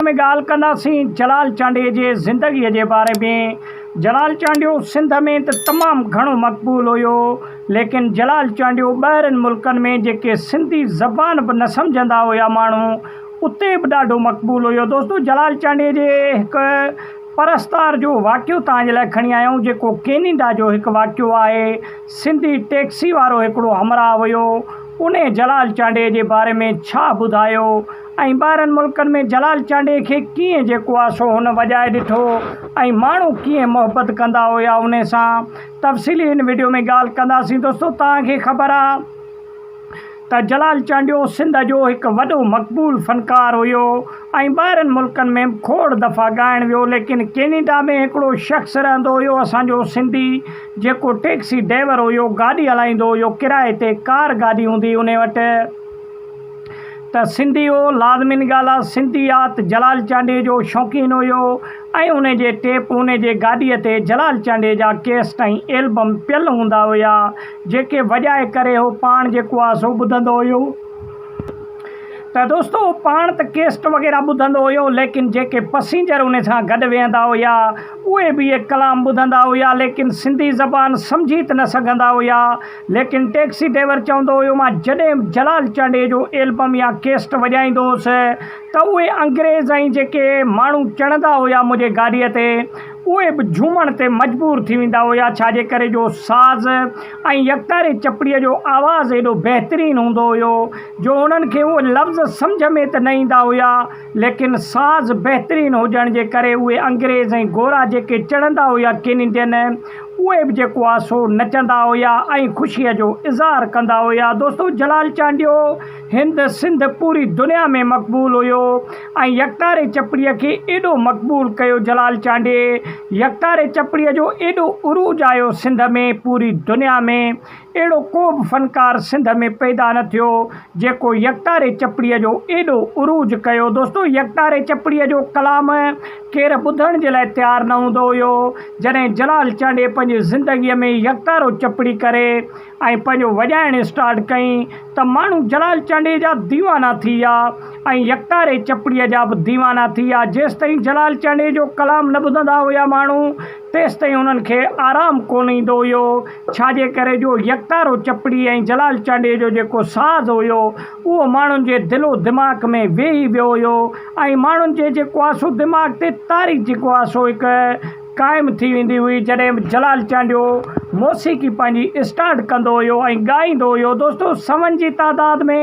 ۾ ڳالهه ڪنداسين جلال چانڊيي جي زندگيء جي باري ۾. جلال چانڊيو سنڌ ۾ ته تمام گهڻو مقبول هيو، ليڪن جلال چانڊيو ٻاهرين ملڪن ۾ جيڪي سنڌي زبان به نه سمجهندا هيا ماڻهو، اتي به ڏاڍو مقبول هيو. دوستو جلال چانڊيي جي هڪ پرستار جو واقعو توهان جي لاء کڻي آيائون جيڪو ڪينيڊا جو هڪ واقعو آهي. سنڌي ٽيڪسي وارو هڪڙو همراهه هيو، انهي جلال چانڊيي جي باري ۾ ڇا ٻڌايو. ۽ ٻاهرن ملڪن ۾ جلال چانڊئي کي ڪيئن جيڪو آ سو هن وڄائي ڏٺو ۽ ماڻهو ڪيئن محبت ڪندا هيا ان سان تفصيلي هن وڊيو ۾ ڳالهه ڪنداسين دوستو توهان کي خبر آ ته جلال چانڊيو سنڌ جو هڪ وڏو مقبول فنڪار هيو ۽ ٻاهرن ملڪن ۾ به کوڙ دفعا ڳائڻ ويو ليڪن ڪينيڊا ۾ هڪڙو شخص رهندو هيو اسان جو سنڌي جيڪو ٽيڪسي ڊيور هيو گاڏي هلائيندو هيو ڪرائي تي ڪار گاڏي هوندي ان وٽ ته سنڌي هو، لازمي نگالا سنڌي آ ته جلال چانڊيي جو شوقين هيو ۽ ان جي ٽيپ ان جي گاڏي تي جلال چانڊيي جا ڪيسٽ ۽ ايلبم پيل هوندا هيا جيڪي وڄائي ڪري هو پاڻ جيڪو آ سو ٻڌندو هيو ته دوستو هو پاڻ ته ڪيسٽ وغيره ٻڌندو هيو ليڪن جيڪي پسينجر ان سان گڏ ويهندا هيا اهي به اهي ڪلام ٻڌندا هيا ليڪن سنڌي زبان سمجهي ته نه سگهندا هيا. ليڪن ٽيڪسي ڊرائيور چوندو هيو مان جڏهن جلال چانڊيي جو ايلبم يا ڪيسٽ وڄائيندو هوس ته اهي انگريز ۽ جيڪي ماڻهو چڙهندا هيا منهنجي گاڏيء تي اهي به جهومڻ تي مجبور ٿي ويندا هيا ڇاجي ڪري جو ساز ۽ يڪتاري چپڙيء جو آواز ايڏو بهترين هوندو هيو جو هنن کي اهي لفظ سمجهه ۾ ته نه ايندا هيا ليڪن ساز بهترين هجڻ جي ڪري اهي انگريز ۽ گورا جيڪي چڙهندا هيا ڪين انڊين اهي به جيڪو آهي سو نچندا هيا ۽ خوشيء جو اظهار ڪندا هيا. دوستو جلال چانڊيو هند سنڌ پوري دنيا ۾ مقبول هيو ۽ يڪتاري چپڙي کي ايڏو مقبول ڪيو جلال چانڊيي يڪتاري چپڙي جو ايڏو عروج آيو سنڌ ۾ پوري دنيا ۾ اهڙو ڪو به فنڪار سنڌ ۾ پيدا نه ٿيو جيڪو يڪتاري چپڙيء جو ايڏو عروج ڪيو. دوستو يڪتاري چپڙيء جو ڪلام ڪير ٻڌڻ جي لاء تيار نه هوندو هيو. جڏهن جلال چانڊيي پنهنجي زندگيء ۾ يڪتارو چپڙي ڪري ۽ پنهنجو وڄائڻ اسٽارٽ ڪئين ته ماڻهو جلال چانڊيي جا ديوانا ٿي ويا ۽ يڪتاري چپڙيء جا به ديوانا ٿي ويا. جيستائين جلال چانڊيي جو ڪلام نه ٻڌندا هيا ماڻهو تيستائين انهن کي آرام ڪونه ايندو هيو، ڇاجي ڪري جو يڪتارو چپڙي ۽ جلال چانڊيي جو جيڪو ساز هيو، اهو ماڻهن جي دل و دماغ ۾ ويهي ويو هيو ۽ ماڻهن جي جيڪو آهي سو دماغ تي تاريخ جيڪو آهي سو هڪ قائم ٿي ويندي هئي. جڏهن به جلال چانڊيو موسيقي پنهنجي اسٽارٽ ڪندو هيو ۽ ڳائيندو هيو، دوستو سون جي تعداد ۾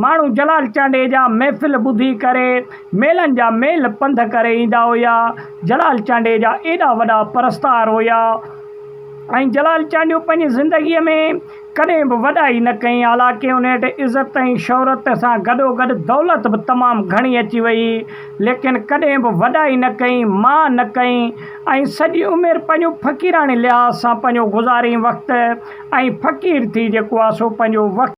ماڻهو جلال چانڊيي جا محفل ٻڌي ڪري ميلن جا ميل پنڌ ڪري ايندا هيا. جلال چانڊيي جا ايڏا وڏا پرستار هيا ۽ جلال چانڊيو پنهنجي زندگيء ۾ ڪڏهن به وڏائي نه ڪئي، حالانڪه ان وٽ عزت ۽ شهرت سان گڏوگڏ دولت به تمام گهڻي اچي ويئي، ليڪن ڪڏهن به وڏائي نه ڪئي، مان نه ڪئي ۽ سڄي عمر پنهنجو فقيراڻي لحاظ سان پنهنجو گذاريئي وقت ۽ فقير ٿي جيڪو آ سو پنهنجو وقت.